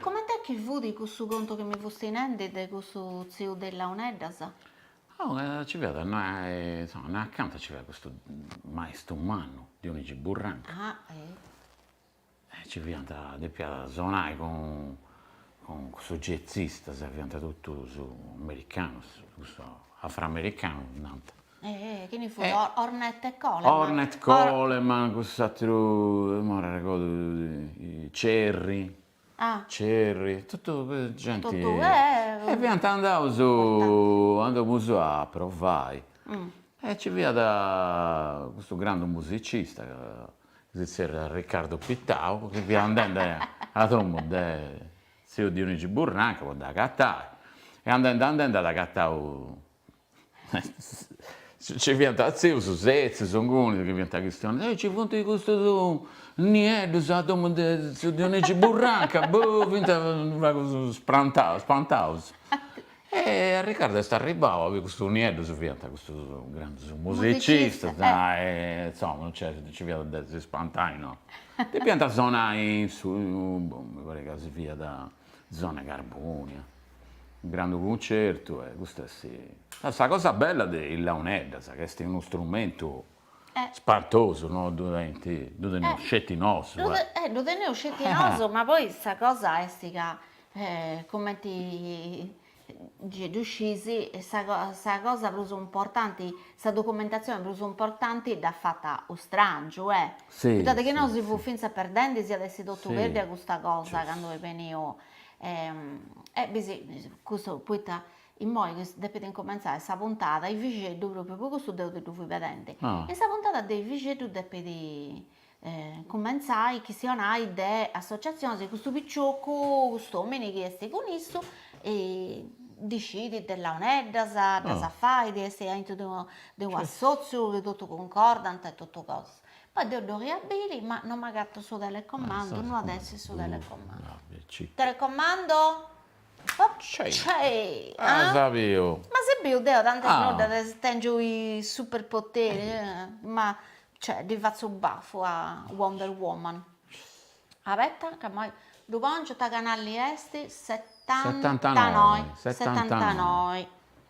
Comente chi fut cussu contu chi mi fusti nendi de cussu tziu de is launeddas? Oh, ci fiat, insoma, no acanta ci fiat custu maistru mannu, Dionigi Burranca. Ah, eh! Nci fiant, depiat sonai cun cussus jazzistas, fiant totus americanus, cussus afroamericanus nant. Chini fut? Ornette Coleman? Ornette Coleman, cussus aterus, no m'arregodu, Cherry, Cherry, totu genti, e fiant andaus, andamus a provai e nci fiat custu grandu musicista si zerriat Riccardo Pittau, chi fiat andende a domo de tziu Dionigi Burranca po dd'agatai, e andende andende at agatau nci fiant tzius setzius ingunis chi fiant chistionendi, e ci funt custus nieddus a domo de tziu Dionigi Burranca, boh, fiant u' pagu spantaus spantaus E Riccardo est arribau, ca custus nieddus fiant custus grandus musicistas, e insomma non nci fiat de si spantai, no, depiant sonai in su, mi parit ca si fiat zona 'e Carbonia, unu grandu cuncertu e custu est sa cosa bella de is launeddas ca est unu strumentu Spantosu, no ddu tenint, ddu teneus sceti nosu. Eh ddu teneus sceti nosu, ma poi sa cosa est ca cumenti gei ddu sciis sa sa cosa prus importanti, sa documentatzioni prus importanti dd'at fata u' strangiu, eh, poita de chi no si fut finzas perdendi si at essi totu perdida custa cosa candu est beniu e e bisi custu poita Imoi depit incumentzai sa puntada 'e Vixeddu pròpiu pro custu deo ti ddu fui pedende, e sa puntada de Vixeddu depit cumentzai, chistionai de associatziones e custu piciocu, cust'omini chi est cun issu ndi scit de launeddas, ddas fait, est aintru de unu de unu assotziu chi totu cuncordant e totu cosas. Poi deo dd'oria biri ma non m'agatu su telecomandu, non at a essi su telecomandu. Telecomando As biu. Ma as biu deo tantas bortas tèngiu is superpoteri, ma cioè ddi fatzu bafu a Wonder Woman. Abetta ca imoi ddu pòngiu, ta canalli est? Setantanoi. Setantanoi.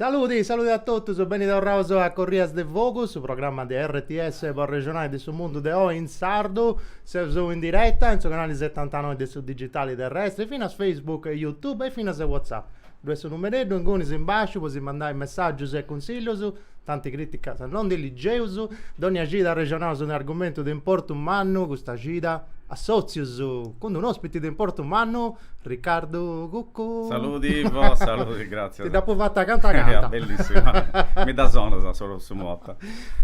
Saludi, saludi a totus, beni torraus a Corrias de Fogu, su programma de RTS po arrexonai de su mundu de oi in sardu. Seus in diretta in su canali setantanoi de su digitali terrestri, finas Facebook e Youtube e finas Whatsapp. Ddoi est su numereddu inguni in basciu po si mandai messaggius e cunsillius. Tanti crìticas no ndi ligeus, dònnia cida arrexonaus unu argumentu de importu mannu, custa cida assòtzius cun un'òspiti de importu mannu, Ricardu Cuccu. Saludi Ivo, saludi, gràtzias. Ti dd'apu fata canta. Bellissima, mi dda sonnu su notti.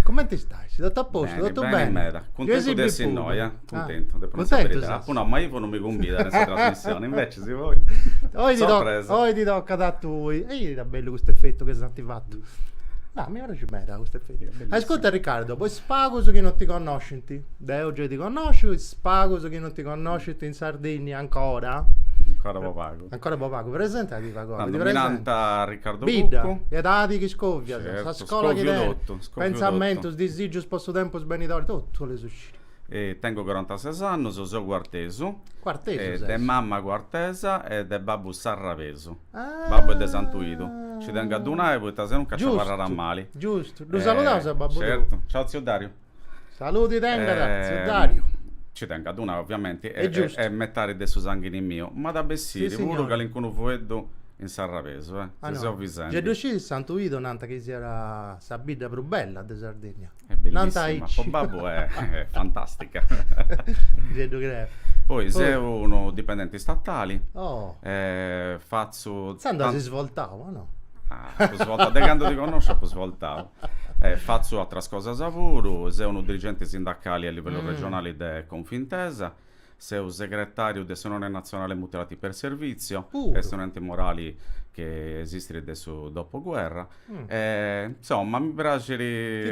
Cumenti stais? Totu a postu, totu beni? Beni, beni meda, cuntentu de essi innoi, eh. Cuntentu, depu nai sa beridadi. Apu nau, ma ivu no mi cumbidat in sa trasmissioni, invecis poi, sorpresa. Oi ti tocat a tui. Est bellu custu effettu chi eus fatu. Ah, mi praxit meda custu effettu. Ascurta Ricardu, po is pagus chi non ti connoscint, deu giai ti connosciu, is pagus chi non ti connoscint in Sardinnia ancora, Ancora po pagu. Ancora po pagu, presentadì pagu. Mi narant Ricardu Cuccu. Bidda, edadi chi scovias, sa scola chi tenit. Scoviu totu, scoviu totu. Pensamentus, disigius po su tempus benidori, totu 'ollu sciri. Tengu corantases annus, seu cuartesu, de mama cuartesa e de babbu sarrabesu, babbu est de Santuidu, nci tengu a ddu nai poita senuncas nci abarrat a mali. Giustu, ddu saludaus a babbu tou. Certu, ciau tziu Dariu. Saludi tengat tziu Dariu. Nci tengu a ddu nai oviamenti, est metadi de su sanghini miu, m'at a bessiri puru calincunu fueddu in sarrabesu, si seu Visenti. Gei ddu scis ca Santuidu nant chi siat sa bidda prus bella de Sardinnia. Est bellissima, po babbu est fantàstica. Gei ddu creu. Poi seu unu dipendenti istatali. Oh. E fatzu. Intzandus as svoltau, o no? Apu svoltau, de candu ti connosciu apu svoltau. E fatzu atras cosas puru, seu unu dirigenti sindacali a livellu regionali de Confintesa. Seu segretàriu de s'Unione Natzionale Mutilati per Servizio, est un'ente morali chi esistit de su dopoguerra e insoma mi praxit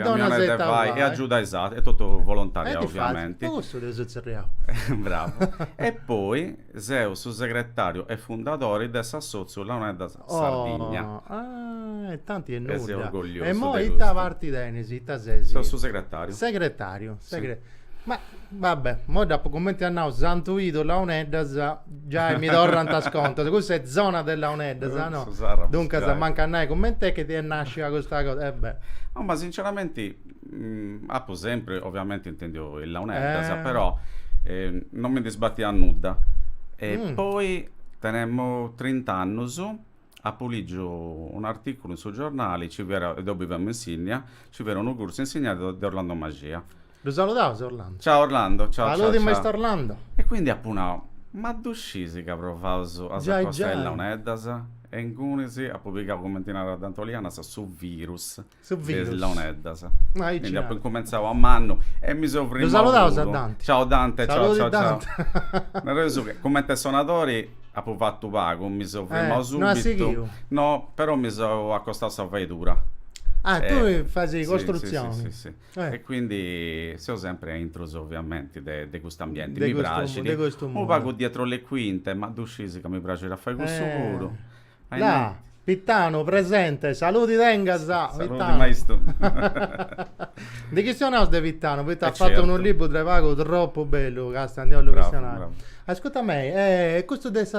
a mi 'onai de fai e agiudai is aterus, est totu volontariau ovviamenti. Po cussu t'eus tzerriau. Bravu. E poi seu su segretàriu e fundadori de s'assòtziu Launeddas Sardigna. Oh, ah, e tanti 'e nudda. E seu orgogliosu de custu. E imoi ita parti tenis, ita ses? Seu su segretariu. Segretariu, segre. Si. Ma, va bè, imoi dd'apu cumenti as nau Santu Idu, Launeddas, giai mi torrant is contus, cussa est zona de Launeddas, no? Su Sàrrabus, giai. Duncas, mancu a nai cumenti est chi est nascia custa cosa, e bè. No, ma sinceramenti Apo sempri oviamenti intendiu is launeddas, però non mi ndi sbatiat nudda. E poi tenemu trint'annus, apu ligiu un'articulu in su giornali, nci fiat, deu biviamu in Sinnia, nci fiat unu cursu insignadu de Orlando Maxia. Ddu saludaus Orlando. Ciao Orlando, ciao ciao ciao. Saludi Maistu Orlando. E quindi apu nau, ma ddu scis ca provaus a s'acostai a is launeddas? E ingunis apu pigau, cumenti narat Dante Olianas, su virus. Su virus. De is launeddas. Ma aici. Quindi apu incumentzau de mannu e mi seu frimmau. Ddu saludaus a Dante. Ciao Dante, ciao ciao ciao. Nareus su chi, cumenti a sonadori apu fatu pagu, mi seu frimmau subitu. No as sighiu? No, però mi seu acostau a sa faidura. Ah, tui fais costrutzioni. Si, si, si. E quindi seu sempri a intrus ovviamenti de cust'ambienti. Mi praxit. De custu mundu. Unu pagu dietro le quinte, ma ddu scisi ca mi praxit a fai cussu puru. Là, Pitanu presente, saludi tengas. Saludi maistu. Ndi chistionaus de Pitanu, poita at fatu unu libru de pagu tropu bellu, ca si ndi 'ollu chistionai. Ascurta mei, e custu est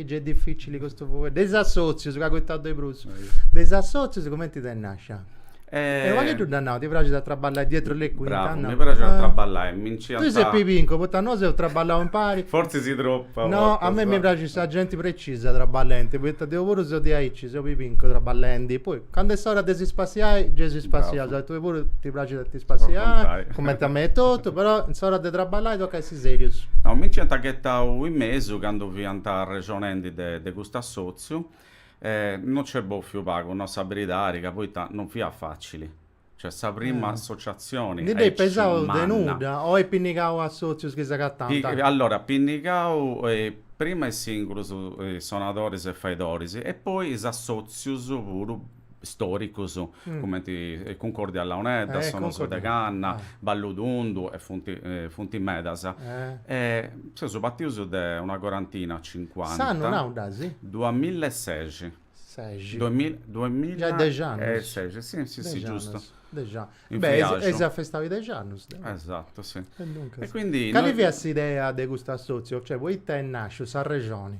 giai dificili custu fueddu, de is assotzius ca acoitaus de prus. De is assotzius cumenti t'est nascia? E unu pagheddu nd'at nau, ti praxit a traballai dietro le quinte? Bravu, mi praxit a traballai, mi nci ant. Tui ses pibincu, poita nosu seus traballau impari. Fortzis tropu. No, a mei mi praxit sa genti precisa traballenti, poita deu puru seu diaici, seu pibincu traballendi, poi candu est s'ora de si spassiai, gei si spassiaus, a tui puru ti praxit a ti spassiai, cumenti a mei etotu, però in s'ora de traballai tocat a essi serius. No, mi nci ant ghetau in mesu candu fiant arrexonendi de custu assotziu. E no nc'est bòfiu pagu, nau sa beridadi, poita no fiat facili. Cioè sa prima Eh. associazioni Ndi dd'eis pesau de nudda o eis pinnigau assotzius chi s'agatant? Allora, pinnigau prima is singulus sonadoris e faidoris e poi is assotzius puru stòricos, cumenti Cuncordia a Launeddas, Sonus de Canna, Ballu Tundu e funt funt medas. E seus partius de una corantina, cincuanta. S'annu nau dd'as? Duamilla e seixi. Seixi. Duamilla Giai dexi annus. E seixi, si, si, si, giustu. Dexi annus. In friàxu. Beh, eis festau is dexi annus. Esatu, si. E duncas. E quindi. Cali fiat s'idea de custu assòtziu? Cioè, poita est nàsciu, s'arrexoni?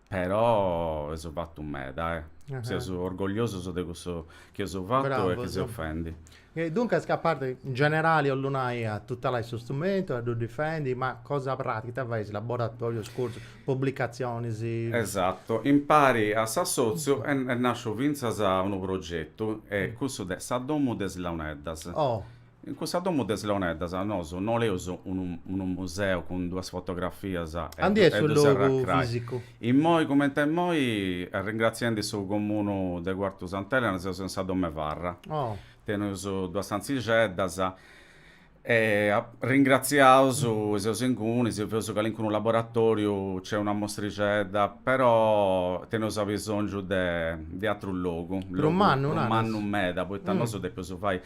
Però eus fatu meda, eh! Seus orgogliosus de cussu chi eus fatu e chi seus fendi. E duncas ca a parti, in generali 'ollu nai, a tutelai su strumentu, a ddu difendi, ma cosa pràtica ita faeis, laboratorius, cursus, publicatzionis? Esatu, impari a s'assotziu est nasciu fintzas unu progetu, est cussu de sa domu de is launeddas. Oh! In cussa domu de is Launeddas nosu boleus unu unu museu cun duas fotografias e serrai a crai. Aundi est su logu fisicu? Immoi cumenti immoi, arringraziendi su Comunu de Cuartu Sant'Elena, seus in sa Dom'e Farra. Oh. Teneus duas stantzixeddas e arringratziaus e seus inguni, si feus calincunu laboratoriu, nc'est una mostrixedda, però teneus abisongiu de de atrus logu, logu mannu, naras? mannu meda, poita nosu depeus fai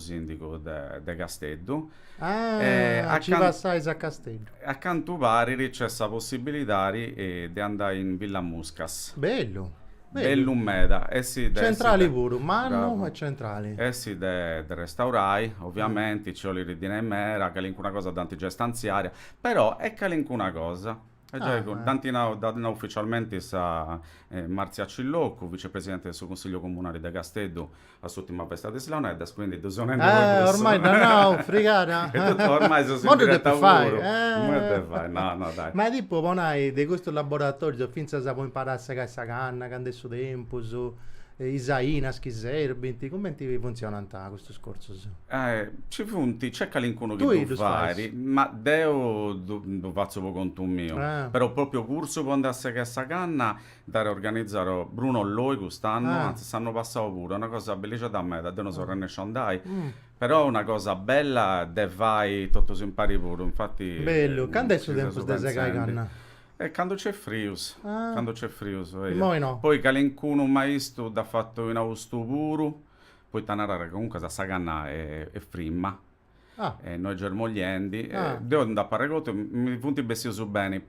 sìndigu de Casteddu. Ah, nci passais a Casteddu. A cantu parit nc'est sa possibilidadi de andai in Villa Muscas. Bellu. Bellu meda. Centrali puru, mannu e centrali. Essi de restaurai, oviamenti, nci 'olit dinai meda, calincuna cosa dd'ant giai stanziada, però est calincuna cosa. Est giai cun, dd'ant nau, dd'at nau uficialmenti sa Marzia Cilloccu, vicepresidenti de su Consigliu Comunali de Casteddu a s'ùrtima festa de is Launeddas, quindi ddu seu nendi puru cussa. Eh, ormai dd'at nau, frigada. Est totu, ormai seus in diretta puru. Imoi ddu depit fai. Imoi ddu depit fai, no, no, dai. Ma tipu po nai, de custus laboratorius, fintzas po imparai a segai sa canna, candu est su tempus, is ainas chi serbint, cumenti funtzionant custus cursus? Eh, ci funt, nc'est calincunu chi ddu fait, ma deu ddu fatzu po contu miu. Però pròpriu cursu po andai a segai sa canna nd'at organizau Bruno Loi cust'annu, antzis s'annu passau puru, est una cosa bellixedda meda, deu no seu arrennesciu a andai, però una cosa bella de fai totus impari puru, infati nci seus pentzendi. Bellu, candu est su tempus de segai canna? Eh, candu nc'est frius, candu nc'est frius, poi calincunu maistu dd'at fatu in austu puru, poita narat ca comunque sa canna est frimma e no est germogliendi, deu nd'apu arregotu, mi funt bessius beni,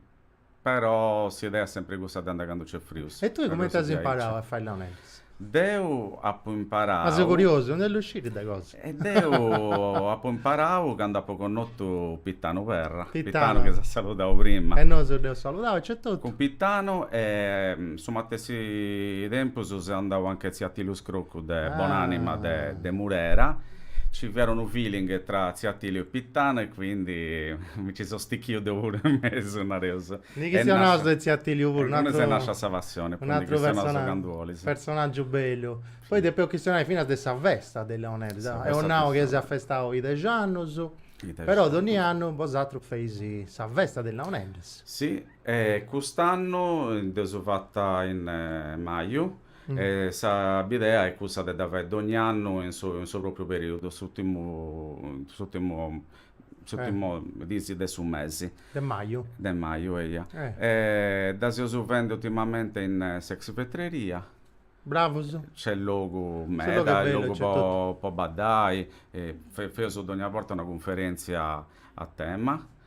però s'idea est sempri cussa de andai candu nc'est frius. E tui cumenti as imparau a fai launeddas? Deu apu imparau. Ma seu curiosu, ndi 'ollu sciri de cosa. E deu apu imparau candu apu connotu Pitanu Perra, Pitanu chi si at saludau prima. E nosu dd'eus saludau etotu. Cun Pitanu e in su matessi tempus seu andau anch'e tziu Atiliu Scroccu de bonanima de de Murera, ci fiat unu feeling tra Tziu Atiliu e Pitanu e quindi mi ci seu stichiu deu puru in mesu nareus. Ndi chistionaus de Tziu Atiliu puru, un'atru est nàscia sa passioni, poi ndi chistionaus candu olis. Personaggiu bellu. Poi depeus chistionai finas de sa festa de is Launeddas, dd'eus nau chi si at festau is dexi annus, però dogni annu bosatrus feis sa festa de is Launeddas. Sì, e cust'annu dd'eus fata in maju, e sa bidea est cussa de ddu fai dogni annu in su in su propriu periudu, s'urtimu s'urtimu s'urtimu dis de su mesi. De maju. De maju, eia. E dda seus fendi urtimamenti in s'ex Vetreria. Bravus. Nc'est logu meda. Su logu est bellu, nc'est totu. Logu po po baddai, feus dogna borta una cunferentzia a tema.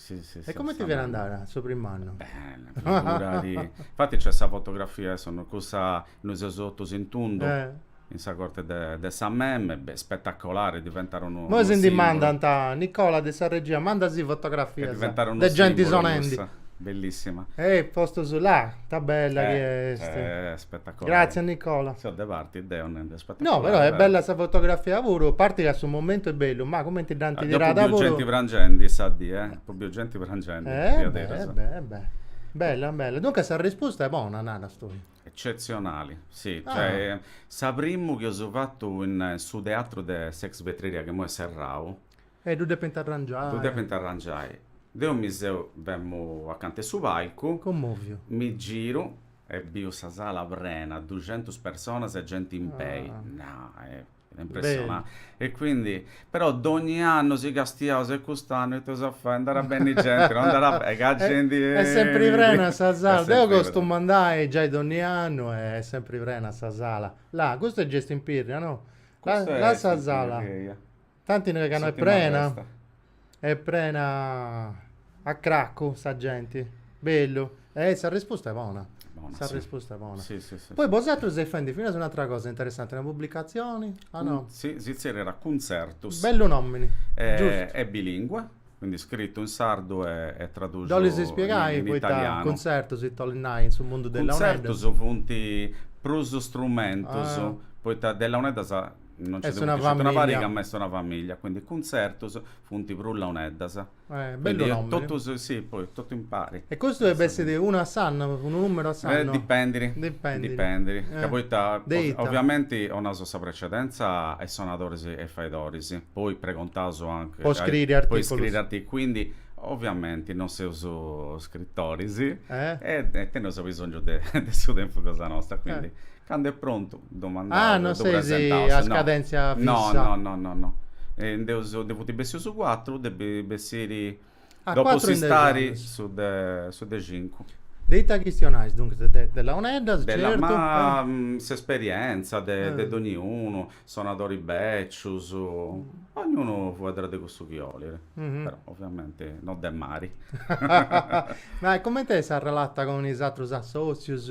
Sì, sì, E comente fiat andau su prim'annu? Bene, figura·ti. Infati nc'est sa fotografia, cussa, nosu seus totus in tundu, in sa corte de de sa MEM, beh spetacolare, diventau unu simbulu. Moi si ndi mandant, Nicola de sa regia, manda·sì fotografias de genti sonendi. Cussa, bellissima. E postus là, ta bella chi est. Spetacolare. Gratzias Nicola. Seu de parti deo. No, però è bella sa fotografia puru, parti ca su momentu è bellu, ma cumenti dd'ant tirada puru... Apo biu genti prangendi sa dì, eh? Apo biu genti prangendi, diaderus. Eh beh, eh beh, bella, bella. Duncas sa rispusta est bona, naras tui? Eccetzionali, sì, cioè, sa primu chi eus fatu in su teatru de s'ex Vetreria chi imoi est serrau... E ddu depint arrangiai. Ddu depint arrangiai. Deu mi seu, femu acanta 'e su palcu... Commoviu. Mi giru, E biu sa sala prena, duxentus personas e genti in pei, nau, fiat impressionanti. Beni. E quindi, però dogni annu si castiaus e cust'annu ita eus a fai, nd'at a benni genti, no nd'at a benni, sa genti e... Est sempri prena sa sala, deu costumu andai giai dogni annu e est sempri prena sa sala. Là, custu est giustu in Pirri, no? Custu est in Pirri. Là sa sala. Tanti ca no est prena. Est prena a cracu sa genti. Bellu. E sa rispusta est bona. Bona, sì. Sa rispusta est bona. Sì, sì, sì. Poi bosatrus seis fendi finas un'atra cosa interessanti, una pubblicatzioni, o no? Sì, si tzerriat Cuntzertus. Bellu nomini. E, est bilingue. Quindi scritu in sardu e tradusu in italianu. Dd'olis ispiegai poita cuntzertus ita 'olit nai in su mundu de Launeddas? Cuntzertus funt prus strumentus poita de Launeddas non nci nd'est sceti una pariga ma est una familia quindi cuntzertus funt prus Launeddas. Bellu nomini. Totus, sì, poi totu impari. E custu depit essi unu a s'annu, unu numeru a s'annu? Dipendit. Dipendit. Dipendit. Ca poita. De ita? Ovviamenti 'onaus sa precedenza a is sonadoris e is faidoris. poi pregontaus anche po scriri articulus artic quindi ovviamenti non seus scritoris e, e teneus abisongiu de, de su tempus cosa nostra quindi eh. cando est prontu ddu mandaus ah non seis a scadenzia fissa no no no no, no. E nd'eus, ndi funt bessius cuatru depit bessiri Ah, dopo cuatru in dexi s'istari annus. su de su de cincu. De ita chistionais, duncas, de de launeddas, Bella, certu, ma eh. s'esperientza de de doniunu, sonadori bècius, ognunu fueddat de cussu chi olit, però oviamenti no de mari. Ma e cumenti est s'arrelata cun is atrus assòtzius?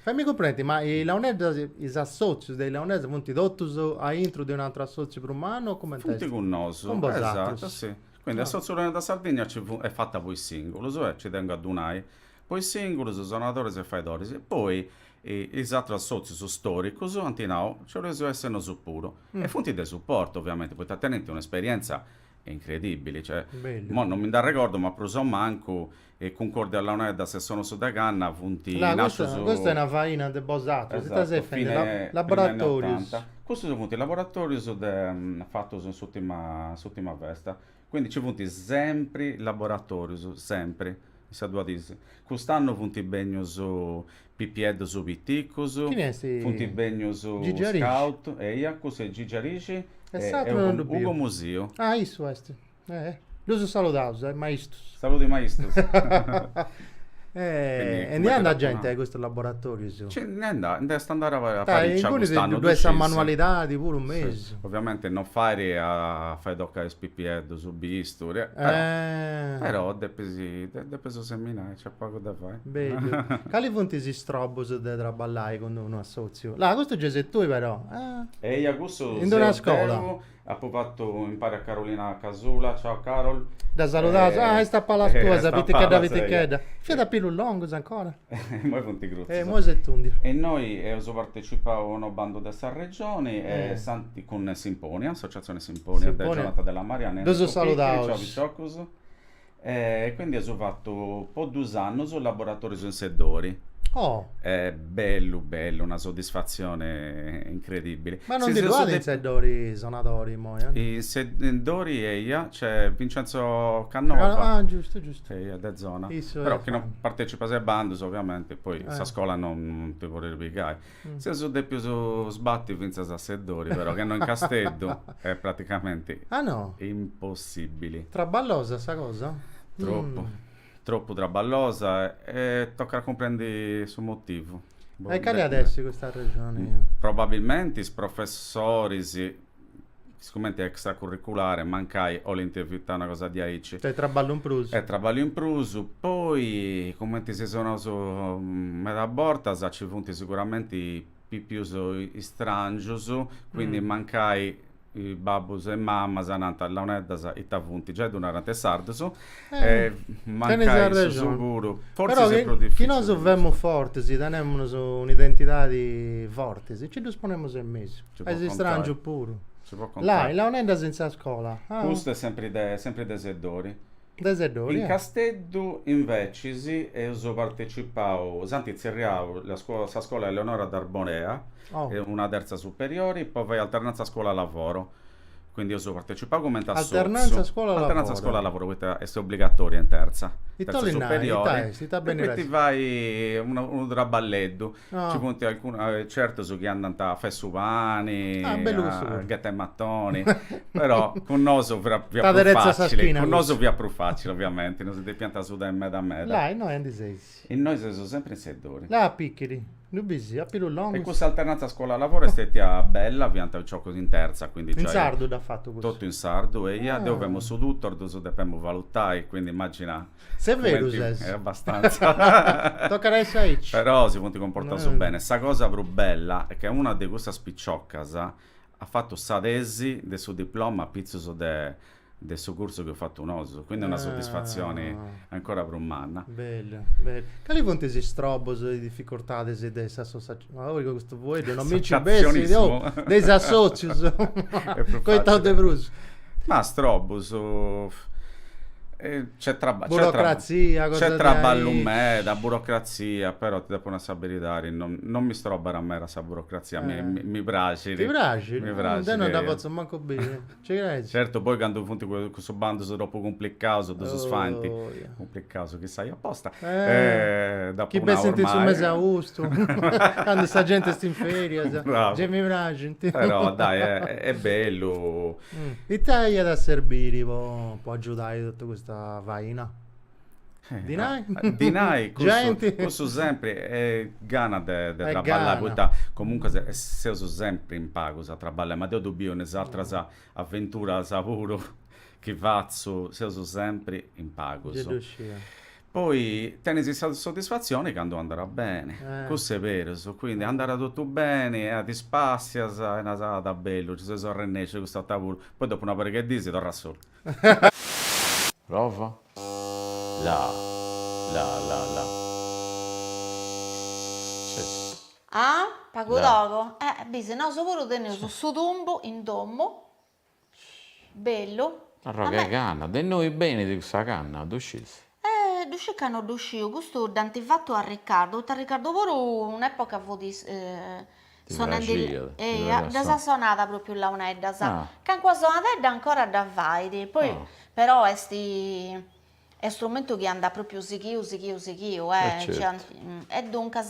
Faimi cumprendi, ma is launeddas, is assòtzius de is launeddas funt totus aintru de un'atru assòtziu prus mannu o cumenti est? Funt cun nosu, esatu, si. Quindi Assòtziu Launeddas Sardigna nci funt, est fata po is sìngulus e nci tengu a ddu nai, po is sìngulus, sonadoris e faidoris, e poi is atrus assòtzius stòricus ant nau, nci 'oleus essi nosu puru. E funt de suportu, oviamenti, poita tenint un'esperientza incredìbili, cioè, imoi non mi nd'arregordu, ma prus o mancu e Cuncòrdia a Launeddas e Sonus de Canna funt Là, custa, nascius, custa est una faina de bosatrus, ita esatto, seis fendi, fine, primi anni laboratorius. ottanta. Custus funt laboratorius de, fatus in s'utima, in s'utima festa. Quindi nci funt sempri laboratorius, sempri, in sa dua dis. Cust'annu funt bènnius pipieddus piticus, Chini est? funt bènnius Gigi Arixi? scout, eia, cussu est Gigi Arixi E e s'atru non ddu Ugo, Ugo biu. Musiu. Ah, issu est. Eh, ddus saludaus is maistus. Saludu is maistus. E ndi andat genti a custus laboratorius? Ci ndi nd'at, nd'est andada parìcia cust'annu, ddu scisi. Sa manualidadi puru in mesu. Oviamenti non fait a fai toccai is pipieddus su bisturi, però depis, depis seminai, nc'est pagu de fai. Bellu. Cali funt is strobus de traballai cun unu assòtziu? Là, custu gei ses tui però. Eia, cussu seu deu. In d'una scola. Apo fatu impari a Carolina Casula, ciao Carol. Dda saludaus, ah, est a palas tuas, sa pitichedda pitichedda. Fiat a pilus longus ancora. Imoi funt crutzus. E imoi s'est tùndia. E innoi eus partecipau a unu bandu de sa Regioni e cun Simponia, Associazione Simponia de Jonathan Della Marianna e Enrico Picchiri, ciao piciocus. E quindi eus fattu po dus annus laboratorius in Seddori. Oh. E bellu bellu, una soddisfazione incredibili. Ma non ndi ddu at in Seddori sonadori immoi? In Seddori eia, nc'est Vincenzo Cannova. Ah giustu giustu. Eia de zona. Issu est. Però chi non partecipas a is bandus ovviamenti poi sa scola non ti podit pigai. Seus dèpios sbati fintzas a Seddori, però, ca innoi in Casteddu est praticamenti impossìbili. Traballosa sa cosa? Tropu. Tropu traballosa e tocat a cumprendi su motivu. E cali at essi custa arrexoni? Probabilmenti is professoris sicumenti est extracurriculare, mancai 'olint evitai una cosa diaici. Est traballu in prus. Est traballu in prus. Poi, cumenti si seus naus meda bortas, nci funt siguramenti pipius istrangius, quindi mancai babbus e mamas nant, Launeddas ita funt? Giai ddu narant is sardus. chi nosu femus forti tenemus un'identidadi forti e ci ddus ponemus in mesu is istràngius puru là is launeddas in sa scola custu est sempri de sempri de Seddori de Seddori in Casteddu invecis eus partetzipau s'ant tzerriau sa scola Eleonora d'Arborea una terza superiori po fai alternanza scola lavoro Quindi eus partecipau cumenti a sotziu. Alternanza scuola-lavoro. Alternanza scuola-lavoro, poita est obligatória in terza superiori. E poi ti fais unu traballeddu. Nci funt alcunus, certus chi andant a fai su pani, a ghetai matoni, però cun nosu fiat prus facili. T'aderetzat sa schina cussu. Cun nosu fiat prus facili oviamenti, non si depiant sudai meda meda. Là innoi aundi seis? Innoi seus sempri in Seddori. Là a pichiri? Ddu bisi, a pilus longus. E cussa alternanza scuola-lavoro est stètia bella, fiant piciocus in tertza, quindi giai. In sardu dd'as fatu cussu? Totu in sardu, eia, deu femu su tutor, ddus depemu valutai, quindi immagina. Severu ses. E abbastanza. Tocat a essi aici. Però si funt cumportaus bene. Sa cosa prus bella est ca una de cussas piciocas at fatu sa tesi de su diploma apitzus de de su cursu chi eus fatu nosu, quindi est una soddisfazioni ancora prus manna. Bellu, bellu. Cali funt is strobbus e is difficortadis de is associazionis? Ma oh custu fueddu non mi nci bessit, oh, de is assòtzius, coitau de prus. Ma strobbus, burocrazia, nc'est traballu, nc'est traballu meda, burocrazia, però ti depu nai sa beridadi, non mi strobbat meda sa burocrazia, mi praxit. Ti praxit? Mi praxit. Deu non dda potzu mancu biri. Nci creis? Certu poi candu funt cussus bandus tropu cumplicaus ddus faint, cumplicaus chi sciat aposta, dd'apu nau ormai. Chi bessint in su mesi 'e austu, candu sa genti est in ferias, gei mi praxint. Però dai, est bellu. Ita iat a serbiri po agiudai totu custa faina? Dinai, cussu sempri gana de traballai, poita comunque seus sempri in pagus a traballai, ma deu ddu biu in is ateras aventuras puru chi fatzu, seus sempri in pagus. Poi tenis sa soddisfatzioni candu andat beni, cussu est berus, quindi andat totu beni e ti spassias e naras, ah, ta bellu, nci seus arrennescius, custa borta puru, poi dopu una pariga 'e dís torras solu. Prova? La la la la Ah? Pagu togu? Eh bisi, nosu puru teneus su tumbu in domu, bellu. Arrogu 'e canna, de innoi benit cussa canna, ddu scisi? E ddu sciu ca no ddu sciu, custu dd'ant fatu a Ricardu, poita Ricardu puru un'epoca fut sonende, eia, ddas at sonada propriu launeddas, calincuna sonadedda ancora dda fait, poi però est est strumentu chi andat propriu sighiu sighiu sighiu, e duncas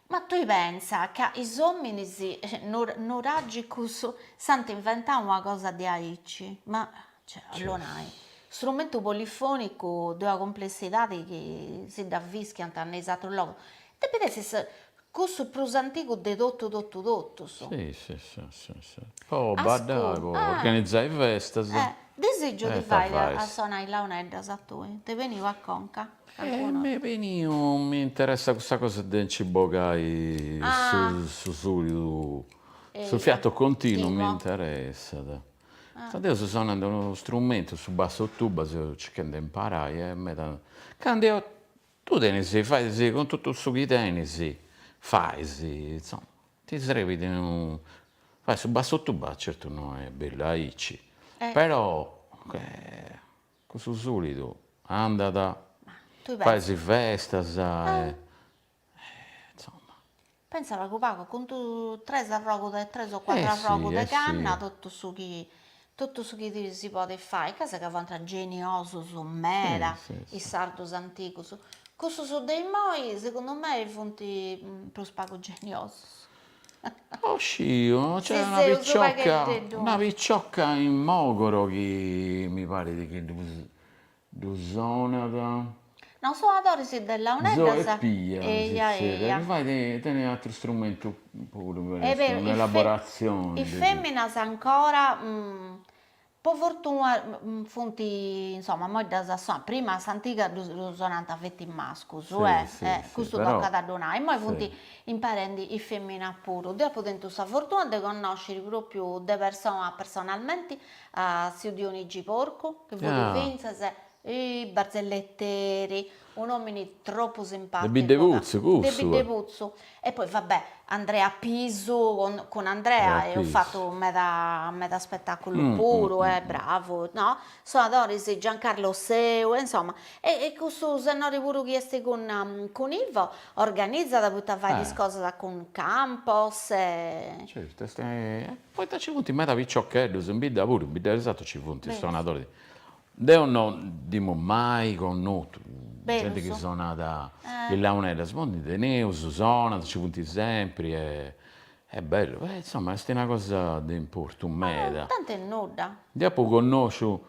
Ma tui pensa ca is ominis nuragicus s'ant inventau una cosa diaici? Ma cioè ollu nai, strumentu polifonicu de una complessidadi chi si dda fischiant in is atrus logus, depit essi cussu prus antigu de totu totu totus. Si si si si po baddai po organizai festas. Disìgiu ti fai a sonai launeddas a tui, t'est beniu a conca. Calincunu. E m'est beniu mi interessat custa cosa de nci bogai su sùlidu, su fiato continu mi interessat. Poita deu seu sonende unu strumentu, su basso tuba, seu circhende de imparai e meda. Candu eo, tui tenis, fais cun totu su chi tenis, fais, insoma, ti srebit unu, fai su basso tuba certu no est bellu aici, però Cussu sulidu andat, fais festas e insomma. Pensa pagu pagu cun tu tres arrogus de tres o cuatru arrogus de canna totu su chi totu su chi si podet fai, ca sa ca fuant geniosus meda is sardus antigus, cussus de imoi segundu mei funt prus pagu geniosus Oh sciu no nc'est una picciocca una picciocca in Mogoro chi mi parit chi ddu ddu sonat, no sonadores de launeddas, Zoe Pia eja eja, mi parit chi tenit atteru strumentu puru, est un'elaboratzione, is feminas ancora Po fortuna funt insoma immoi ddas sonant, prima a s'antiga ddu sonant feti mascus e e custu tocat a ddu nai, immoi funt imparendi is feminas puru, deu apu tentu sa fortuna de connosciri propriu de persona personalmenti a tziu Dionigi Porcu chi fut fintzas barzelleteri Un'omini troppu simpaticu. De Biddeputzu cussu. De Biddeputzu e poi va bè Andrea Pisu cun Andrea eus fatu meda meda spetaculu puru e bravu no. Sonadoris Giancarlo Seu e insomma e e cussu sennori puru chi esti cun cun Ivo organizada poita faidi is cosas cun Campos e. Certu est poita ci funt meda piciocheddus in bidda puru in bidda de Sartu ci funt is suonadoris Deo no nd'emu mai connotu genti chi sonat is launeddas, imoi ndi teneus, sonant, nci funt sempri e est bellu, e insoma est una cosa de importu meda. Tanti est nudda. Ndi apu connosciu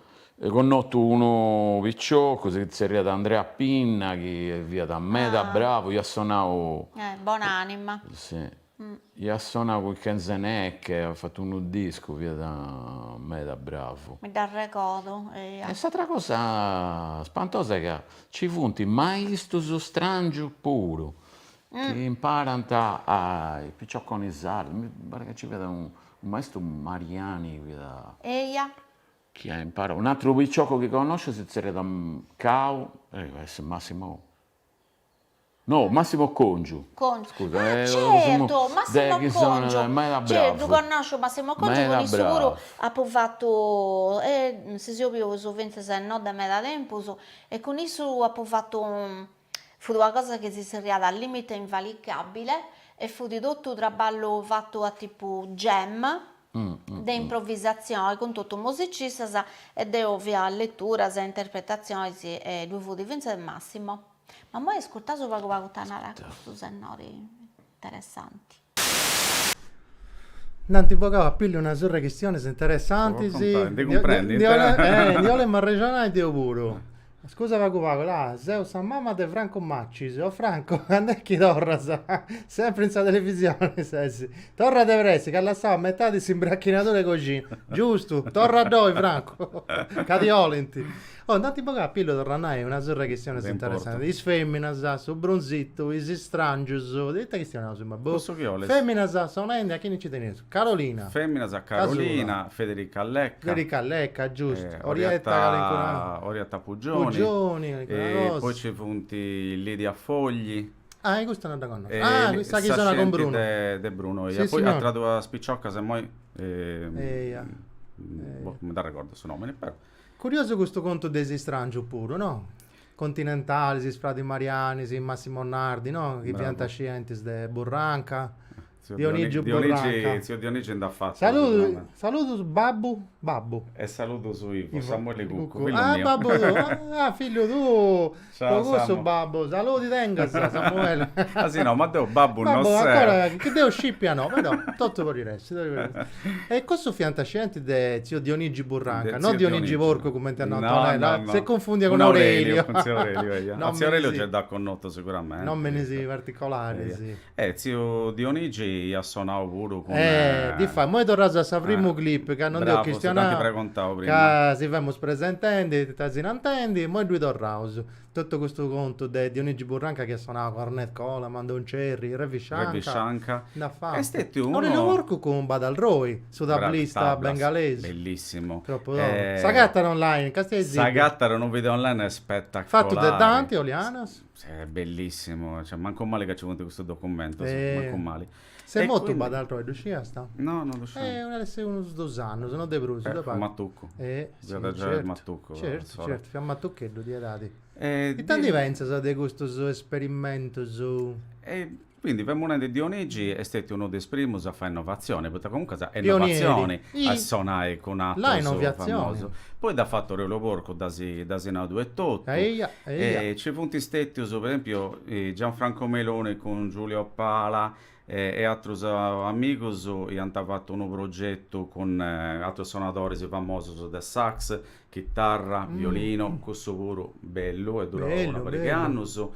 connotu unu piciocu, si tzerriat Andrea Pinna chi fiat meda bravu, iat sonau. Bon'anima. Si Iat sonau cun Kenzeneke, at fatu unu discu, fiat meda bravu. Mi dd'arregodu, eia. E s'atra cosa spantosa est ca nci funt maistus strangius puru, chi imparant a is picioconis sardu, mi parit ca nci fiat unu maistu Mariani chi fiat, eia, chi at imparau, un'atru piciocu chi connosciu si tzerriat Cau, depit essi Massimo No, Massimo Congiu. Congiu. Scusa, ah, certo, Massimo de, Congiu. Meda bravu. Certo, ddu connosciu Massimo Congiu, cun issu puru apu fatu, eh, si seus bius fintzas e no de meda tempus, e cun issu apu fatu, fut una cosa chi si zerriat Al limite invalicabile e fut totu traballu fatu a tipu jam, de improvisazioni, cun totu musicistas e deu faia leturas e interpretatzionis e ddui fut fintzas Massimo. Ma immoi iscurtaus pagu pagu ita narant custus sennoris, interessanti. Nd'ant bogau a pillu una surra 'e chistionis interessantis. Bosi, tanti, ndi cumprendint. Eh, ndi 'olemu arrexonai deu puru. Scusa pagu pagu, là, seu sa mama de Franco Macis. O Franco, cando est chi torras? Sempri in sa televisioni ses. Torra de pressi, ca as lassau a metadi s'imbracchinadura 'e coxina. Giustu, torra a domu, Franco, ca ti 'olint. Oh, nd'ant bogau a pillu, torru a nai, una surra de chistionis interessantis. Is feminas, su brunzitu, is strangius, ita chistioni naus imoi? Boh. Cussu chi 'olis? Feminas, sonendi, a chini nci tenius? Carolina. Feminas, Carolina, Federica Lecca. Federica Lecca, giustu. Orietta calincuna. Orietta Pugioni. Pugioni, calincuna cosa. Poi nci funti Lidia Fogli. Ah, e custa no dda connosciu. Ah, sa chi sonat cun Brunu. De Brunu, eia. Poi atras duas piciocas imoi. Eia. Boh, non mi dd'arregordu su nomini, però. Curiosu custu contu de is istràngius puru, no? Continentalis, is fradis Mariani, Massimo Nardi, no? Chi fiant scientis de Burranca, Dionìgiu Burranca. Tziu Dionigi nd'at fatu su pronome. Saludus babbu, babbu. E saludus Ivo, Samueli Cuccu, fillu miu. Ah, babbu tuu, ah, fillu tuu. Po cussu babbu saludi tengas Samuele. Ah si no ma deu babbu no seu. Babbu ancora no, chi deu scipia no però totu podit essi. E cussu fiant scienti de tzio Dionigi Burranca, no Dionigi Porcu cumenti at nau Antonella, s'est cunfundia cun Aureliu. No no. Tzio Aureliu dd'as a ai connotu seguramente. Nominis particolaris. Eh, tziu Dionigi iat sonau puru cun. Eh, difatis, imoi torraus a sa prima clip, ca non nd'eus chistionau, ca si femus presentendi, arrexonendi, imoi ddui torraus. Totu custu contu de Dionigi Burranca chi iat sonau cun Ornette Coleman, Don Cherry, Ravi Shankar, nd'at fatu. Aurelio Porcu cun Badal Roy, su tablista bengalesu. Bellissimu. Tropu togu. S'agatat online, ca est aici. S'agatat unu video online spetacolari. Fatu de Dante Olianas. Sì, est bellissimu, cioè mancu mali ca ci funt custus documentus, mancu mali. Est mortu Badal Roy, ddu sciast? No, no ddu sciu. Eh, at a essiri unus dus annus, no de prus, de pagu. Matucu. Eh, si, certu, certu, certu, fiat matucheddu, de edadi. Ita ndi pentzas de custus esperimentus? Quindi femu nendi Dionigi est stetiu unu de is primus a fai innovatzioni, poita comuncas est innovatzioni a sonai cun atrus famosus. Poi dd'at fatu Aureliu Porcu, dd'asi nau etotu. Nci funt stetius, po esempiu, Gianfranco Meloni cun Giulio Pala e atrus amigus iant fatu unu progetu cun atrus sonadoris famosus de sax, Chitarra, violinu, cussu puru bellu, est durau una pariga 'e annus.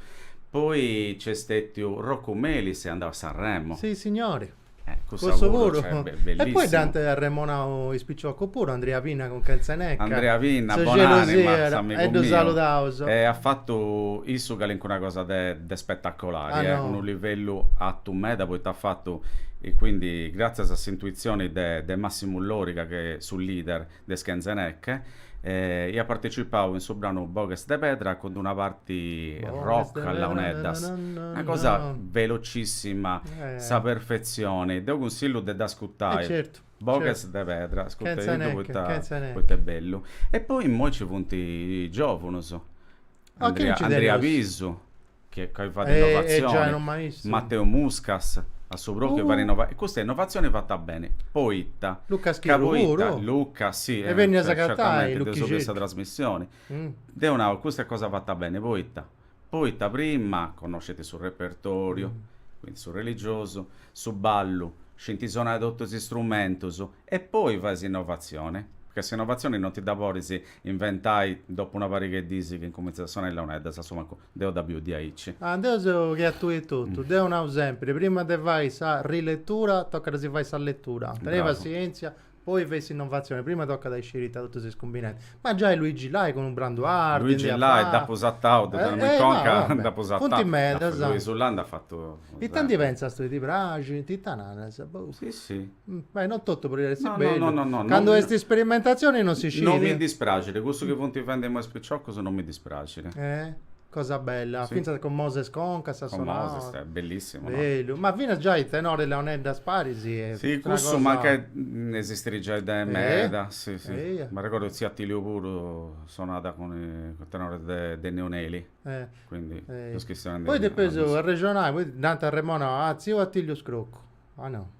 Poi nc'est stètiu Roccu Melis, est andau a Sanremo. Si signori. Eh, cussa Cussu puru, puru. cioè, be- E bellissimu. poi dd'ant arremonau is piciocus puru, Andria Pinna cun Kenzeneke. Andrea Pinna, Su bonanima, ge nosi fiat, s'amigu e ddu miu. saludaus. E at fatu issu calincuna cosa de de spetacolari, Ah, eh, no. unu livellu atu meda, poita at fatu, e quindi, gratzias a s'intuitzioni de de Massimu Loriga, chi est su leader, de is Kenzeneke, iat partecipau in su branu Boghes de pedra cun d'una parti rock a launeddas, una cosa velocissima, sa perfetzioni, deu cunsillu de dd'ascutai, Boghes de pedra, ascutediddu poita est bellu. E poi immoi nci funt is giovunus. A chini nci teneus? Andria Pisu, chi giai fait innovatzioni, Mateu Muscas, a su propriu fait innovatzioni, e custa est innovatzioni fata beni, poita, ca poita, Luccas, si, certamente, dd'eus biu in sa trasmissioni, deu nau, custa est cosa fata beni, poita, poita prima connoscint su repertoriu, quindi su religiosu, su ballu, scint sonai totus is strumentus, e poi faint s'innovatzioni, ca s'innovatzioni non ti dda podis Inventai dopu una pariga 'e diis chi incumintzant a sonai is launeddas, a su mancu deu dda biu diaici. Ah, deu seu che a tui etotu. Deu nau sempiri, prima de fai sa riletura, tocat a si fai sa letura. Tenei Bravu. passientzia, poi fei s'innovatzioni, prima tocat a isciri ita totu si cumbinat. Ma giai Luigi Lai cun unu brandu arti ndi Luigi at Lai, fatu. dd'apu satau, deu teniu mi conca, dd'apu sartau. Funt medas. Luisu Lai nd'at fatu sempri. Ita ndi pentzas tui, ti praxint? Ita naras? Boh. Si, si. Beh, non totu podit essi No, no, bellu. no, no, no, non Candu mi- custas isperimentazioni non si scit. Non mi dispraxit, cussu chi funt fendi imoi is piciocus non mi dispraxit. Eh? Cosa bella, Si. fintzas cun Moses Concas sa Con sonora. Moses, eh, bellissimu, no? Bellu, ma finas giai tenores e launeddas paris e Si, una cussu cosa mancai esistirit giai de Eh? meda, si, si. Eia. M'arregodu tziu Attilio puru at sonau cun i cun tenores de de Neoneli, Eh. quindi Eh. is chistiones de Poi depeus arrexonai, poi nant a Remona, ah, tziu Attilio Scroccu. Ah no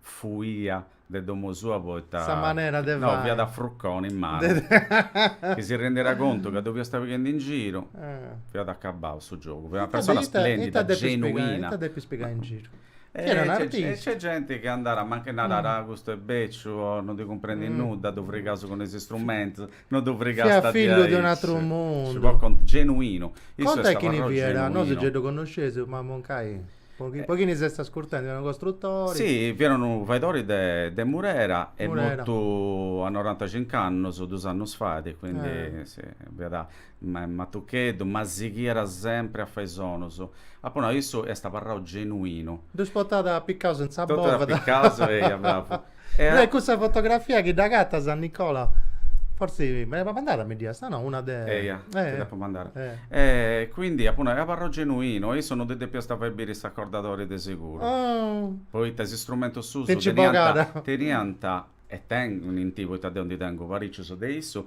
fuias de domu sua poita Sa manera de no, fai. fiat a fruconi in manu, chi si rendiat contu ca ddu fiast pighendi in giru, fiat acabau su giogu, fiat una persona Ita depis splendida, ita depis pigai, genuina. ita depis pigai in giru? Chi era un E e nc'est genti chi andat mancai narat, ah custu est beciu o non ddi cumprendit nudda, ddu frigaus cun is strumentus, no ddu frigas Fiat fillu de un'atru mundu. si podit contai, genuinu, issu est Contai chini fiat, nosu gei ddu connosceus, mamu in ca est? Po chi, po chini si est ascurtendi, fiat unu costrutori? Si, fiat unu faidori de, de Murera est Murera. mortu a norantacinc'annus, dus annus fait, quindi si, fiat matucheddu, ma sighiat sempri a fai sonus. Apu nau, issu est abarrau genuinu. Ddus portat apicaus a sa bovida. Totus apicaus, eia, bravu. Dai eh. cussa fotografia chi dd'agatas a Nicola, forsi mi dd'as mandada mi dd'ias, ah no, una de. Eia, ti eh, dd'apo mandada. eh. E quindi apuntu, abarrau genuinu, e issu non ddi depiast fai biri s'acordadori de seguru, Oh, poita is istrumentus sus Tenci teniant, bogada. teniant e tenint, poita deu ndi tengu paricius de issu,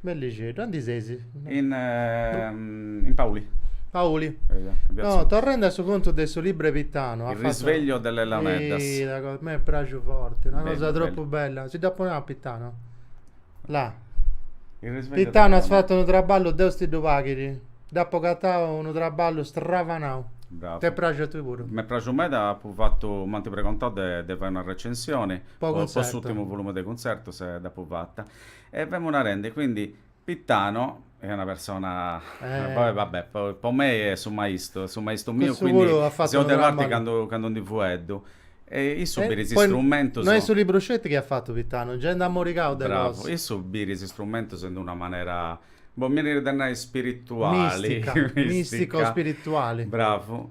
Bellixeddu, aundi seis? In, in Pauli. Pauli. No, torrendi a su contu de su libro 'e Pitano. Il risveglio delle launeddas. Sì, una cosa, m'est praxu forti, una bello, cosa troppo bello. bella. Si dda poneu a Pitano. Là. Pitano as fatu un traballo, Deus ti ddu paghidi. Dd'apo agatau unu traballu stravanau. Bravo. T'est praxu a tui puru? M'est praxu meda, apu fatu, m'ant pregontau de fai una recensioni po po s'urtimu volume de Cuntzertus e dd'apu fata. E femu narende, quindi, Pittano est una persona, poi va bè, po mei est su maistu, su maistu miu, quindi seu de parte candu ndi fueddu. E issu bit is strumentus. No est su libru sceti chi at fatu Pittano, gei nd'at morigau de cosa. Bravo, issu bit is strumentus in d'una manera, boh, mi 'enit de nai spirituali. Mistica, mistico-spirituali. Bravu.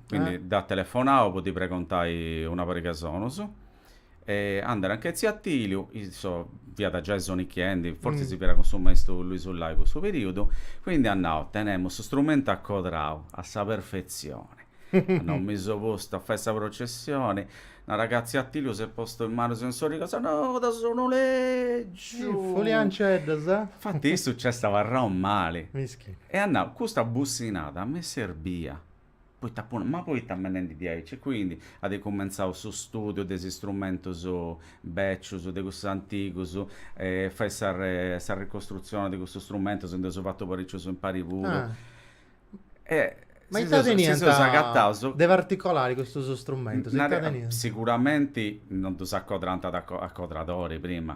Quindi eh. dd'at telefonau po ti pregontai una pariga 'e sonus. E andai anca 'e tziu Atiliu, issu fiat giai sonichiendi, forsi mm. si fiat cun su maistu Luisu Lai cussu periudu, quindi at nau, tenemus su strumentu acodrau a sa perfetzioni. Nosu si seus postus a fai sa processioni, narat ca tziu Atiliu s'est postu is manus in s'origa no, da su noleggiu. Folianceddas, eh? Infatti issu nc'est abarrau mali. Mischi. E at nau, custa bussinada mi serbiat. poita puru, ma poita benendi diaici e quindi at cumentzau su studiu de is istrumentus becius, de cussus antigus, e fai sa sa ricostruzioni de cussus strumentus, ndi eus fatu paricius impari puru, e si seus agataus, de particolari custus strumentus, ita teniant? Siguramenti non ddus acodrànt a acodradori prima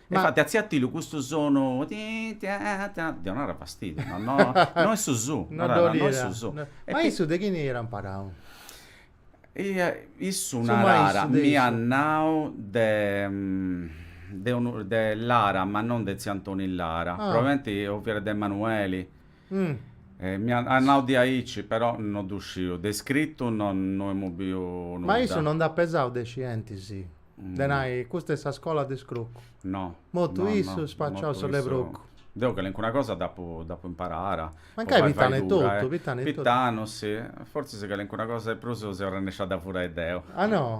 Ma infatti a tziu Atiliu custu sonu ddi onàt fastidiu, no no no est su su, no ddo no est su su. Ma issu de chini era imparau? Eia issu narat, m'iat nau de de unu de Lara ma non de tziu Antoni Lara, probabilmente o fiat de Emanueli M'iat nau diaici, però no ddu sciu, de iscritu no emu biu nudda. Ma issu no nd'at pesau de scientis, de nai, custa est sa scola de scrucu? No. Mortu issu, spaciau su 'e scrucu. Deu calincuna cosa dd'apu imparada. Mancai Pitanu etotu, Pitanu etotu. Pitanu, si. Fortzis calincuna cosa de prus seu arrennesciu a dda furai deu. Ah no?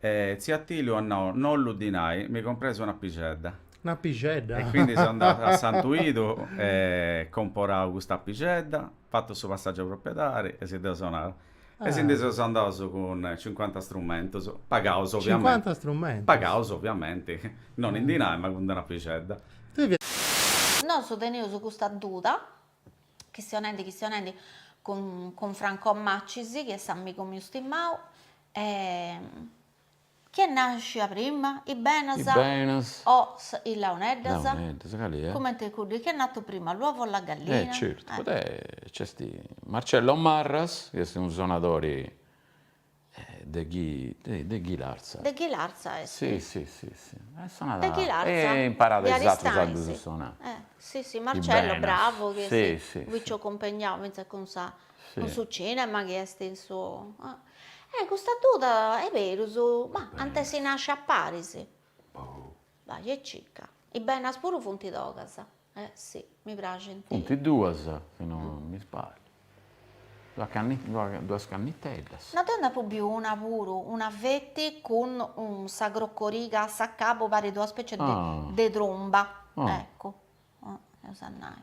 E tziu Atiliu at nau, No dinai, mi comprais una pixedda. Una pixedda? E quindi seu andau a Santuidu e comporau custa pixedda, fatu su passaggiu 'e propriedadi e si dd'eus donau. E si ndi seus andaus cun cincuanta strumentus, pagaus ovviamenti. Cincuanta strumentus? Pagaus ovviamenti, non in dinai ma cun d-una pixedda. Nosu teneus custa duda, chistionendi chistionendi cun Franco Macis chi est s'amigu miu stimau, E chie nasciat prima, is benas. Is benas. O sa, is launeddas. Launeddas, cali è? Cumenti cuddu, chi è nato prima, l'uovo o la gallina? Eh certu, poita nc'est Marcello Marras, chi est unu sonadori de chi, de Ghilarza. De Ghilarza est. Si, si, si, si. E sonat. De Ghilarza. E imparat is atrus a ddus sonai. Eh, si, si, Marcello, bravu, piciocu impegnau. Fintzas cun sa, cun su cinema chi est in su. Eh custa duda est berus ma ant essi nascias paris. Boh. Bai e circa. Is benas puru funt togas. Eh si, mi praxint. Funt duas, si non mi sbagliu. Duas canni duas canniteddas. No deu nd'apu biu una puru, una feti cun sa crocoriga a s'acabu, parit una specie de tromba. Eccu. Eus a nai.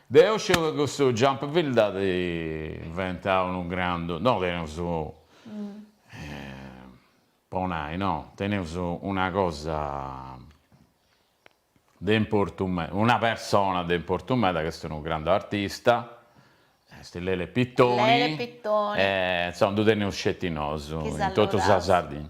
Deu sciu ca custu jump field at inventau unu grandu, no teneus po nai no, teneus una cosa de importu meda, una persona de importu meda ch'est unu grandu artista, est Lele Pittoni, insomma ddu teneus sceti nosu in totu sa Sardigna.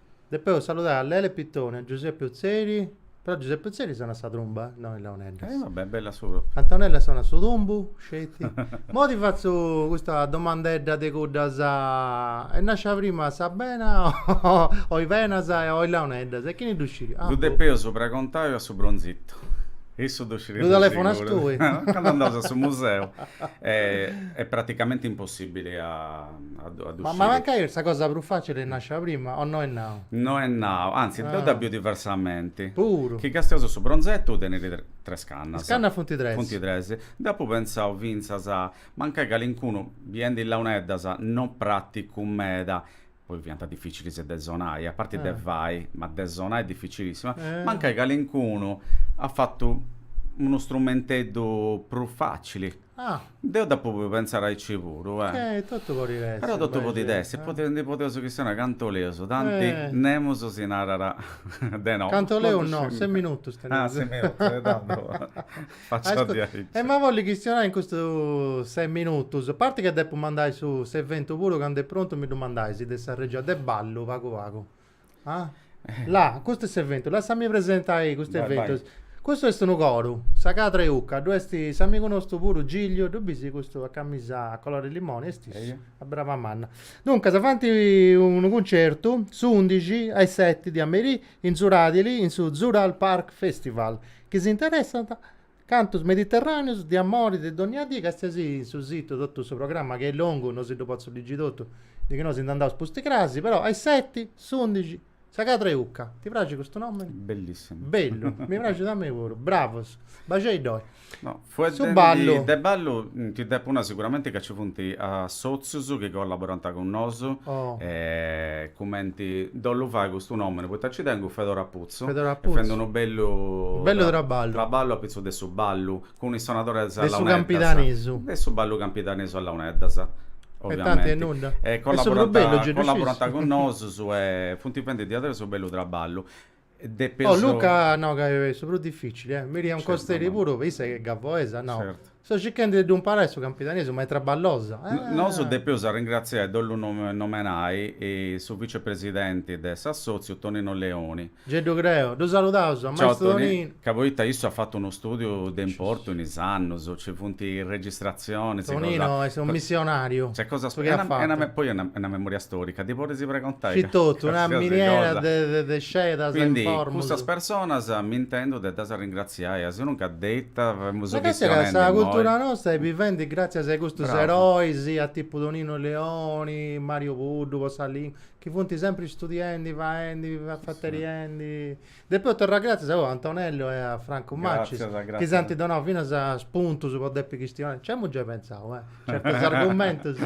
Depeus saludai a Lele Pittoni, a Giuseppe Utzeri, però Giuseppe Utzeri sonat sa trumba, no is launeddas. Eh vabbè, bella su propriu. Antonella sonat su tumbu, sceti. Moi ti fatzu custa domandedda de cuddas, est nascia prima sa bena o is benas o is launeddas e chini ddu sciri? Ddu depeus pragontai a su bronzitu, issu ddu sciriat de sicuru. Ddu telefonas tui? Candu andaus a su museu est praticamenti impossibili a. Ma mancai est sa cosa prus facili est nascia prima o no est nau? No est nau, anzi deu dda biu diversamenti. Puru. Chi castiaus su bronzettu tenit tres cannas. Is cannas funt tres. Funt tres. Dd'apu pentzau fintzas, mancai calincunu, biendi launeddas, no praticu meda, poi fiant dificilis de sonai, a parti de fai, ma de sonai dificilissima, mancai calincunu at fatu unu strumenteddu prus facili. Ah! Deu dd'apu podiu pentzare aici puru, eh! Eh, totu podit essi. Però totu podit essi, podit, ndi podeus chistionai cantu 'oleus, tanti nemus si narat de no. Cantu 'oleus no, ses minutus teneus. Ah, ses minutus, e tandu fatzu a diaici. E ma bollu chistionai in custus ses minutus, a parti ca depu mandai su s'eventu puru, candu est prontu mi ddu mandais de sa regia de ballu pagu pagu. Ah? Là, custu est s'eventu, lassami presentai custu eventu. Custu est unu coru, sa cadra 'e Ucca, ddu est s'amigu nostru puru Gigliu, ddu bis custu a camisa a colori limoni, est issu, a braba manna. Duncas, faint unu cuncertu s'undixi a is seti de a merì in Zuradili in su Zural Park Festival, chi si interessant Cantus mediterràneus de amori de dònnia dì, castiaisì in su situ totu su programma chi est longu, no si ddu potzu ligi totu, de chi no si nd'andaus pusti crasi, però a is seti, s'undixi, sa cadra 'e ucca. Ti praxit custu nòmini? Bellissimu. Bellu, mi praxit a mei puru. Bravus. Baxei ddoi. No, fueddendi, Su ballu. de ballu ti depu nai siguramenti ca nci funt assòtzius chi collaborant cun nosu, Oh. e cumenti ddu 'ollu fai custu nòmini, poita nci tengu Fedora Put. Putzu, est fendi unu bellu traballu apitzus de su ballu, cun is sonadores a launeddas, de su ballu campidanesu a launeddas, oviamenti, e collaborant cun nosus e funt fendi diaderus unu bellu traballu. Luca, no, ca est su prus dificili, Miriam Costeri puru, issa chi est gavoesa, no? So circhendi de ddu imparai su campidanesu, ma est traballosa. Nosu depeus arringratziai e ddu nomenai su vicepresidenti de s'assòtziu Tonino Leoni. Gei ddu creu. Ddu saludaus a Ciao maistru Toni, Tonino. ca poita issu at fatu unu stùdiu de importu in is annus, nci funt registratzionis, cosa. Tonino est unu missionariu, Nc'est cosas, su chi at fatu. e poi est una memoria stòrica, ddi podis pregontai Scit totu, una qualsiasi miniera cosa. de scedas e informus. Quindi cussas personas m'intendu de ddas arringratziai. Sinunca de ita femus chistionendi imoi. Càstia, sa cultura nosta est bivendi gràtzias a custus erois, a tipu Toninu Leoni, Mariu Puddu po sa lìngua, chi funt sempri istudiendi, faendi, afateriendi. Depeus torrai gràtzias oe a Antonellu e a Francu Macis, chi s'ant donau finas spuntus po depi chistionai. Nci amus giai pensau, eh, certus argumentus.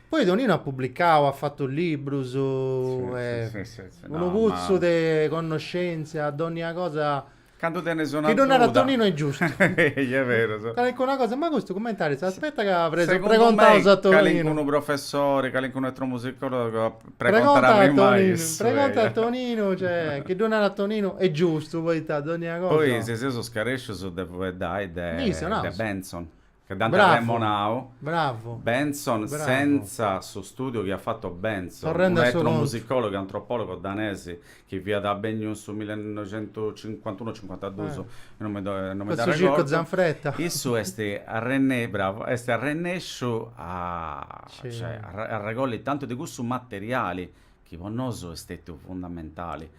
Poi Toninu at publicau, at fatu librus, est unu putzu de connoscèntzia, dònnia cosa Cando tenes una Chi ddu narat duda. Toninu est giustu. Ehi, est beru, so. Calincuna cosa, ma custu cumment'aris? Aspetta ca pres- Segundu pregontaus mei, a Toninu. calincunu professori, calincunu etnomusicòlogu pregontat prima a Toninu, issu, pregonta a ehi. Toninu, cioè, chi ddu narat Toninu est giustu, poita dònnia cosa. Poi si seus scarescius de fueddai de Ndi issu, naus. de Bentzon. Ca dd'ant arremonau. Bravu. Bentzon senza su stùdiu chi at fatu Bentzon, unu etnomusicòlogu e antropòlogu danesi chi fiat benniu in su millenoixentucincuantunu o cincuantadus, non mi dd'arregordu, issu est arrennesciu, bravu, est arrennesciu cioè a arregolli tantu de cussu materiali chi po nosu est stetiu fundamentali,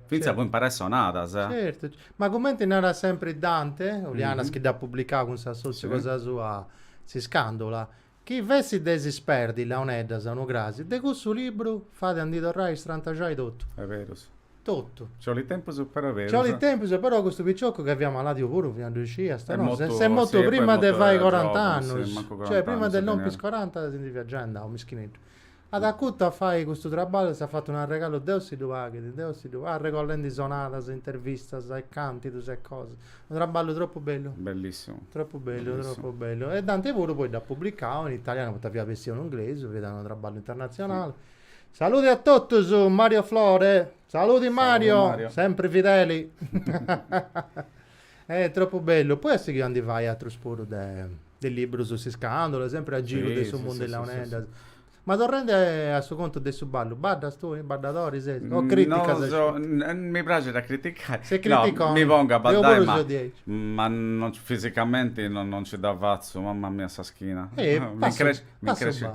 fintzas po imparai sonadas. Certu, ma cumenti narat sempri Dante Olianas chi dd'at publicau cun s'assòtziu cosa sua S'Iscandula, chi fessit de si sperdi is launeddas, unu crasi, de cussu libru fait a ndi torrai a istrantaxai totu. Est berus. Totu. Nci 'olit tempus però est berus. Nci 'olit tempus però custu picioccu ca fiat maladiu puru fiat ddu iscias, est mortu, est mortu prima de fai corant'annus, cioè prima de lompi is coranta si ndi fiat giai andau, mischineddu. At acutu a fai custu traballu e s'at fatu un'arregalu Deus si ddu paghit, Deus si ddu, arregollendi sonadas, intervistas e càntidus e cosas. Unu traballu tropu bellu. Bellissimu. Tropu bellu, tropu bellu. E Dante puru poi dd'at publicau in italianu poita fiat bessiu in inglesu, fiat unu traballu internatzionali. Saludi a totus, Mario Flore. Saludi Mario, Saludi Mario. sempre fideli. eh, troppo bello. Poi a seguire andi vai a truspuru de, de libros su Siscandolo, sempre a giro sì, de su sì, mondo sì, dell'Aunenda. Sì, sì. Ma torrende a su conto de su ballo, baddas tu, baddadori sei? O mm, criticas? No, so, n- mi piace da criticare. Se critico, no, mi pongo a baddare, ma, ma non, fisicamente non, non ci da fazzo, mamma mia, sa schina. Eh, mi cresce, mi cresce.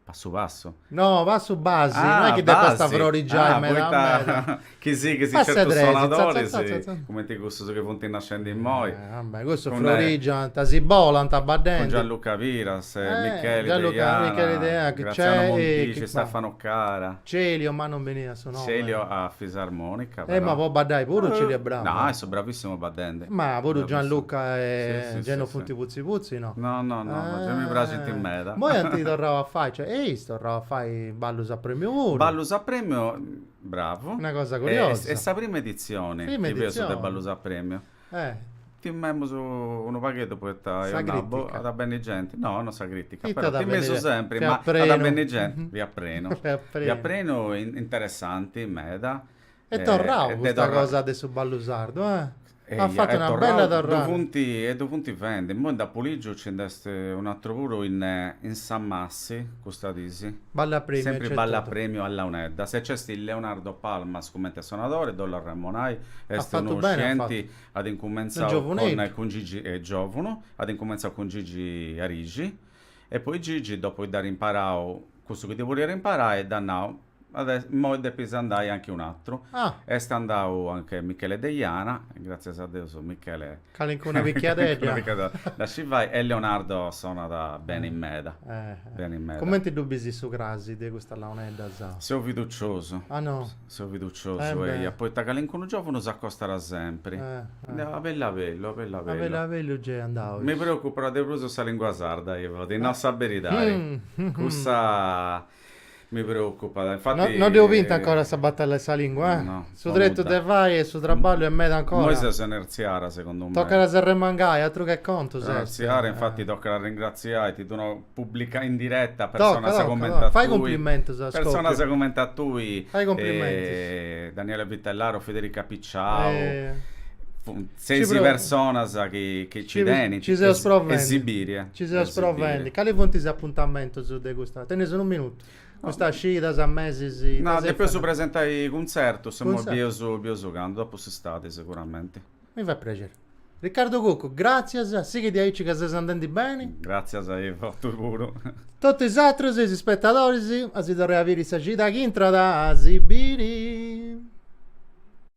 Passu passu? No, passu basi, ah, no è chi depat basi. stai a frorigiai ah, meda poita... meda. chi sighis a Passu 'e certus tresi, sonadoris, za, za, za, cumenti cussus chi funt nascendi immoi. Eh, vabbè, cussus con frorigiant, si bolant baddendi. Con Gianluca Piras, eh, Micheli Gianluca, Deiana, Micheli Deiana, Graziano Montisci, Stefano Cara. Celio, ma non beniat su nomu. Celio a fisarmonica però. Eh ma po baddai puru Celio è bravu. No, est bravissimu baddende. Ma puru Gianluca e Geno funt putzi putzi no? No no no, gei mi praxint meda. Moi ant torrau a fai, cioè eis torrau a fai ballus a premiu puru. Ballus a premiu, bravu. Una cosa curiosa. Est sa prima editzioni chi feus de ballus a premiu. Eh. Timemus unu pagheddu poita eus nau at a benni genti, no no sa critica, però timeus sempri, ma at a benni genti, fiat prenu, fiat prenu e interessanti meda. Est torrau custa cosa de su ballu sardu, eh. At fatu una bella torrada. Ddu funt fendi, imoi nd'apu ligiu nci nd'est un'atru puru in Samassi Si, custas dis. Ballu a premiu. Sempri ballu a premiu a launeddas. E nc'est Leonardo Palmas cumenti sonadori, ddu bollu arremonai, est unu scienti, at incumentzau cun Gigi, giovunu, at incumentzau cun Gigi Arixi e poi Gigi dopu chi dd'at imparau cussu chi ddi podiat imparai dd'at nau, Immoi depis andai a nche un'atru. Est andau a nche Michele Deiana, gràtzias a Deus Michele. Calincuna pichiadedda. Dda scit fai e Leonardo sonat beni meda. Cumenti ddu bis su crasi de custas launeddas? Seu fiduciosu. Ah no? Seu fiduciosu, eia, poita calincunu giòvunu s'acostat sempri. A bellu a bellu, a bellu a bellu. A bellu a bellu nc'est andau. Mi preocupat de prus sa lìngua sarda, Ivo, ti nau sa beridadi. Cussa Mi preocupat, infati... No dd'eus binta ancora sa batalla 'e sa lingua, eh? No, po nudda. Su tretu de fai e su traballu est meda ancora. Immoi ses a nertziare, segundu mei. Tocat a s'arremangai, atru che contus est. Arringratziai, infati tocat a arringratziai, ti ddu nau, pùblica in diretta, personas cumenti a tui. Tocat, tocat, fai cumplimentus a scòpiu. Personas cumenti a tui. Fai cumplimentus. Daniele Vitellaro, Federica Picciau. Seis personas chi nci tenint e si bit. Nci seus provendi. Cali funt is apuntamentus de custa? Tenis unu minutu. Custas cidas, mesis, ita si fait? Depeus presentai cuntzertus, imoi bieus candu, dopu s'istadi seguramenti. Mi fait prexeri. Riccardo Cuccu, gràtzias, sighi diaici ca ses andendi beni. Gràtzias a bosatrus puru. Totu is atrus, is ispetadoris, a si torrai a biri sa cida chi intrat. A si biri.